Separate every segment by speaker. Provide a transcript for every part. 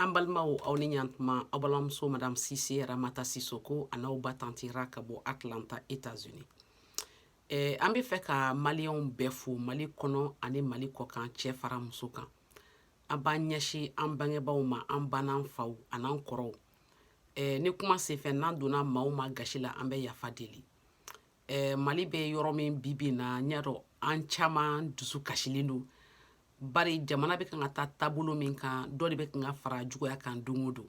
Speaker 1: An balimaw aw ni ɲantuma aw balimamuso madame Sise Ramata Sisoko an'aw ba tanti Ra ka bɔ Atlanta Etats Unis eh, an bɛ fɛ ka maliyɛnw bɛɛ fo mali kɔnɔ ani mali kɔkan cɛ fara muso kan an b'an ɲɛsin an bangebaaw ma an ba n'an faw an'an kɔrɔw eh, ni kuma senfɛ n'an donna maa o maa gasi la an bɛ yafa deli eh, mali bɛ yɔrɔ min bi bi na n y'a dɔn an caman dusu kasilen don bari jamana bɛ kan ka taa taabolo min kan dɔ de bɛ kan ka fara juguya kan don o don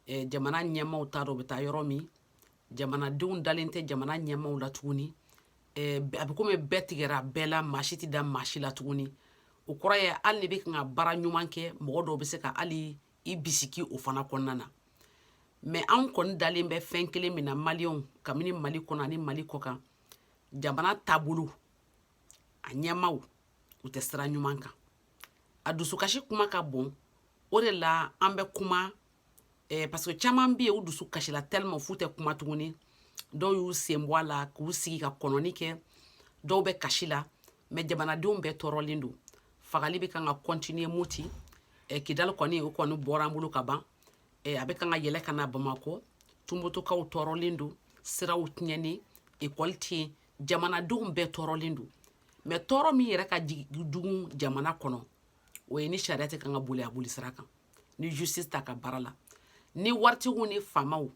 Speaker 1: eh, jamana ɲɛmaaw t'a dɔn u bɛ taa yɔrɔ min jamanadenw dalen tɛ jamana ɲɛmaaw la tuguni eh, a bɛ komi bɛɛ tigɛra bɛɛ la maa si tɛ da maa si la tuguni o kɔrɔ ye hali n'i bɛ kan ka baara ɲuman kɛ mɔgɔ dɔw bɛ se ka hali i bisiki o fana kɔnɔna na mais an kɔni dalen bɛ fɛn kelen min na maliyɛnw kabini mali kɔnɔ ani mali kɔkan jamana taabolo a ɲɛmaaw u tɛ sira ɲuman kan a dusukasi kuma ka bon o de la an bɛ kuma eh, parce que caman bɛ yen u dusu kasila tellement f'u tɛ kuma tuguni dɔw y'u sen bɔ a la k'u sigi ka kɔnɔni kɛ dɔw bɛ kasi la mais jamanadenw bɛɛ tɔɔrɔlen don fagali bɛ kan ka continuer moti eh, kidali kɔni o kɔni bɔra an bolo ka ban eh, a bɛ kan ka yɛlɛ ka na bamakɔ tumbutukaw tɔɔrɔlen don siraw tiɲɛnen ekɔli tɛ yen jamanadenw bɛɛ tɔɔrɔlen don mais tɔɔrɔ min yɛrɛ ka jugu jamana kɔnɔ o ye ni sariya tɛ kan ka boli a boli sira kan ni justice t'a ka baara la ni waritigiw ni faamaw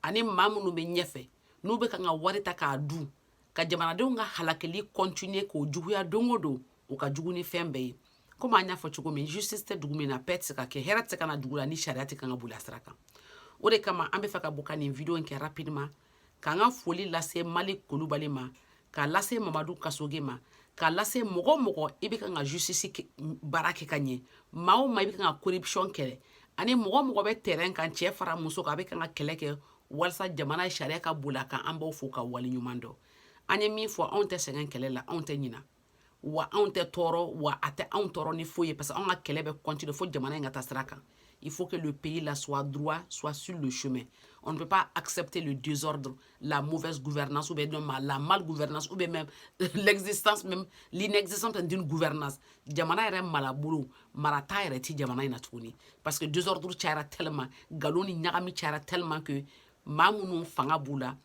Speaker 1: ani maa minnu bɛ ɲɛfɛ n'u bɛ kan ka wari ta k'a dun ka jamanadenw ka halakili continuer k'o juguya don o don o ka jugu ni fɛn bɛɛ ye komi an y'a fɔ cogo min justice tɛ dugu min na paix tɛ se ka kɛ hɛrɛ tɛ se ka na dugu la ni sariya tɛ kan ka boli a sira kan o de kama an bɛ fɛ ka bɔ ka nin video in kɛ rapidement k'an ka foli lase malik kulubali ma k'a lase mamadu kasoge ma k'a lase mɔgɔ o mɔgɔ i bɛ kan ka justice baara kɛ ka ɲɛ maa o maa i bɛ kan ka corruption kɛlɛ ani mɔgɔ o mɔgɔ bɛ terrain kan cɛ fara muso kan a bɛ kan ka kɛlɛ kɛ walasa jamana sariya ka boli a kan an b'aw fo ka waleɲuman dɔn an ye min fɔ anw tɛ sɛgɛn kɛlɛ la anw tɛ ɲina wa anw tɛ tɔɔrɔ wa a tɛ anw tɔɔrɔ ni foyi ye parce que anw ka kɛlɛ bɛ continuer fo jamana in ka taa sira kan il faut que le pays là soit droit soit sur le chemin on ne peut pas accepter le désordre la mauvaise gouvernance ou bien non, la mal gouvernance ou bien même l'existence même l'inexistence d'une gouvernance jamana yɛrɛ malabolo marata yɛrɛ ti jamana in na tuguni parce que désordre cayara tellement galon ni ɲagami cayara tellement que maa minnu fanga b'u la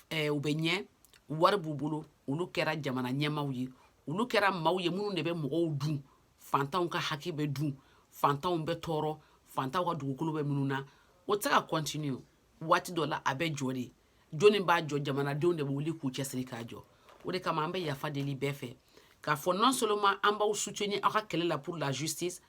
Speaker 1: eh, u bɛ ɲɛ wari b'u bolo olu kɛra jamana ɲɛmaw ye olu kɛra maaw ye minnu de bɛ mɔgɔw dun fantanw ka haki bɛ dun fantanw bɛ tɔɔrɔ fantanw ka dugukolo bɛ min'u na o tɛ se ka continuer waati dɔ la a bɛ jɔ de jɔnni b'a jɔ jamanadenw de bɛ wuli k'u cɛsiri k'a jɔ o de kama an bɛ yafa deli bɛɛ fɛ k'a fɔ non seulement an b'aw soutenir aw ka kɛlɛ la pour la justice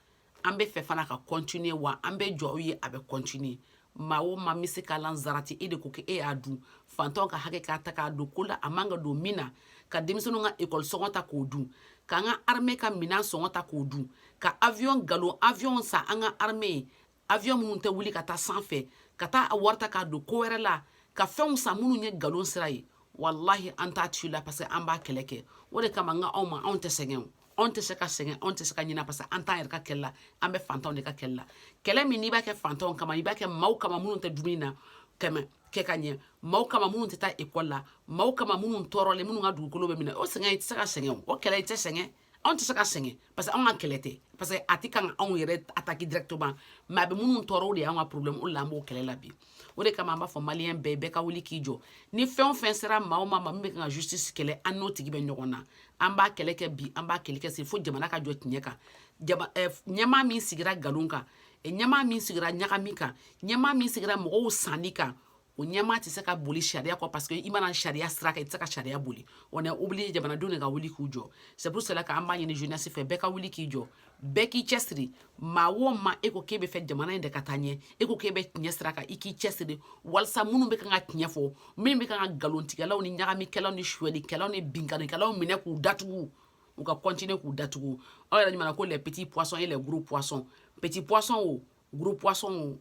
Speaker 1: an bɛ fɛ fana ka continuer wa an bɛ jɔ aw ye a bɛ continuer maa o maa bɛ se ka sarati e de ko k'e y'a dun fantanw ka hakɛ k'a ta k'a don ko la a man ka don min na ka denmisɛnninw ka école sɔngɔ ta k'o dun k'an ka armée ka minɛn sɔngɔ ta k'o dun ka avion nkalon avion san an ka armée ye avion minnu tɛ wuli ka taa sanfɛ ka taa a wari ta k'a don ko wɛrɛ la ka fɛnw san minnu ye nkalon sira ye walahi an t'a ci la parce que an b'a kɛlɛ kɛ o de kama an ka anw ma anw tɛ sɛgɛn anw tɛ se ka sɛgɛn anw tɛ se ka ɲinɛ parce que an t'an yɛrɛ ka kɛlɛ la an bɛ fantanw de ka kɛlɛ la kɛlɛ min n'i b'a kɛ fantanw kama i b'a kɛ maaw kama minnu tɛ dumuni na tɛmɛ kɛ ka ɲɛ maaw kama minnu tɛ taa école la maaw kama minnu tɔɔrɔlen minnu ka dugukolo bɛ minɛ o sɛgɛn i tɛ se ka sɛgɛn o kɛlɛ i tɛ sɛgɛn anw tɛ se ka sɛgɛn parce que anw ka kɛlɛ tɛ parce que a tɛ kan ka anw yɛrɛ attaquer directement mais a bɛ minnu tɔɔrɔ o de y'anw ka problème o de la an b'o kɛlɛ la bi o de kama an b'a fɔ maliyɛn bɛɛ bɛɛ ka wuli k'i jɔ ni fɛn o fɛn sera maa o maa ma min bɛ kan ka justice kɛlɛ an n'o tigi bɛ ɲɔgɔn na an b'a kɛlɛ kɛ bi an b'a kɛlɛ kɛ sini fo jamana ka jɔ tiɲɛ kan jama eh, ɲɛmaa min sigira nkalon kan eh, ɲɛmaa min sigira ɲagami kan ɲɛmaa min sigira mɔgɔw sanni kan o ɲɛmaa tɛ se ka boli sariya kɔ parce que i ma na sariya sira kan i tɛ se ka sariya boli on est obligé jamanadenw de ka wuli k'u jɔ c'est pour cela k'an b'a ɲini jeunesse fɛ bɛɛ ka wuli k'i jɔ bɛɛ k'i cɛsiri maa o maa e ko k'e bɛ fɛ jamana in de ka taa ɲɛ e ko k'e bɛ tiɲɛ sira kan i k'i cɛsiri walasa minnu bɛ kan ka tiɲɛ fɔ minnu bɛ kan ka nkalontigɛlaw ni ɲagamikɛlaw ni suɲɛlikɛlaw ni binkannikɛlaw minɛ k'u datugu u ka continuer k'u datugu aw yɛrɛ ɲuman ko les petits poissons et les gros poissons petits poissons o gros poissons o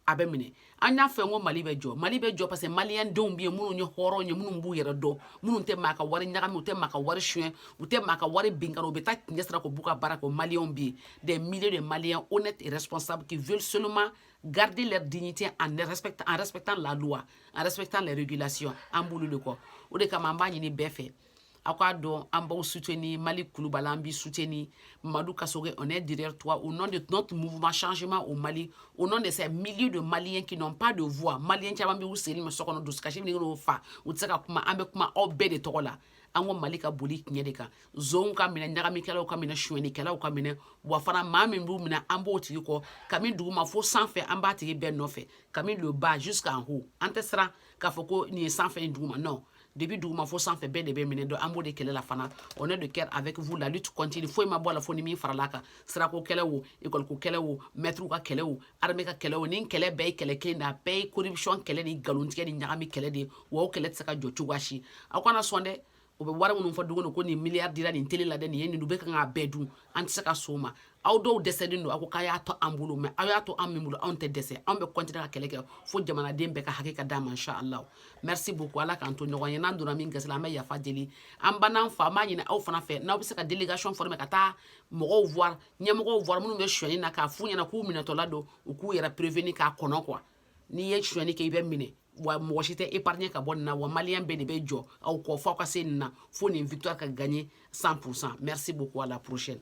Speaker 1: a bɛ minɛ an y'a fɛ ko mali bɛ jɔ mali bɛ jɔ parce que maliyɛn denw bɛ yen minnu ye hɔrɔn ye minnu b'u yɛrɛ dɔn minnu tɛ maa ka wari ɲagami u tɛ maa ka wari suɲɛ u tɛ maa ka wari binkanni u bɛ taa tiɲɛ sira kɔ u b'u ka baara kɛ o maliyɛnw bɛ yen des milliers de maliens honnêtes et responsables qui veulent seulement garder leur dignité en respectant la loi en respectant les régulations an b'olu de kɔ o de kama an b'a ɲini bɛɛ fɛ aw k'a dɔn an b'aw soutenir maliki kulubali an b'i soutenir madu kasoge on est derrière toi au nom de notre mouvement changement au mali au nom de ces milliers de maliens qui n'ont pas de voix malien caman bɛ u seli ma so kɔnɔ dusukasi bɛ n'u fa u tɛ se ka kuma an bɛ kuma aw bɛɛ de tɔgɔ la an ko mali ka boli tiɲɛ de kan zonw ka minɛ ɲagamikɛlaw ka minɛ sonyɛnikɛlaw ka minɛ wa fana maa min b'u minɛ an b'o tigi kɔ kami duguma fo sanfɛ an b'a tigi bɛɛ nɔfɛ kami le bas jusqu'en haut an tɛ siran k'a fɔ ko nin ye sanfɛ ye duguma non depuis duguma fo sanfɛ bɛɛ de bɛ minɛ donc an b'o de kɛlɛ la fana on est de cœur avec vous la lutte continue foyi ma bɔ a la fo ni min farala a kan sirako kɛlɛ o école ko kɛlɛ o mɛtiriw ka kɛlɛ o armée ka kɛlɛ o nin kɛlɛ bɛɛ ye kɛlɛ kelen de a bɛɛ ye corruption kɛlɛ ni nkalontigɛ ni ɲagami kɛlɛ de ye wa o kɛlɛ tɛ se ka jɔ cogoya si aw kana sɔn dɛ u bɛ wari minnu fɔ don ko nin miliyari dira nin tele la dɛ nin ye nin u bɛ kan k'a bɛɛ dun an tɛ se ka sɔn o ma aw dɔw dɛsɛlen don a ko k'a y'a to an bolo mais aw y'a to an min bolo anw tɛ dɛsɛ anw bɛ continuer ka kɛlɛ kɛ fo jamanaden bɛɛ ka hakɛ ka d'a ma insha allah merci beaucoup ala k'an to ɲɔgɔn ye n'an donna min gasi la an bɛ yafa deli an ba n'an fa an b'a ɲini aw fana fɛ n'aw bɛ se ka délégation former ka taa mɔgɔw voir ɲɛmɔgɔw voir minnu bɛ sonyani na k'a f'u ɲɛna k'u minɛtɔla don u k'u yɛrɛ prévenir k'a kɔnɔ quoi n'i ye sonyani kɛ i bɛ minɛ wa mɔgɔ si tɛ épargner ka bɔ nin na wa malien bɛɛ de bɛ jɔ aw kɔ f'aw ka se nin na fo nin victoire ka gagner 100 merci beaucoup à la prochaine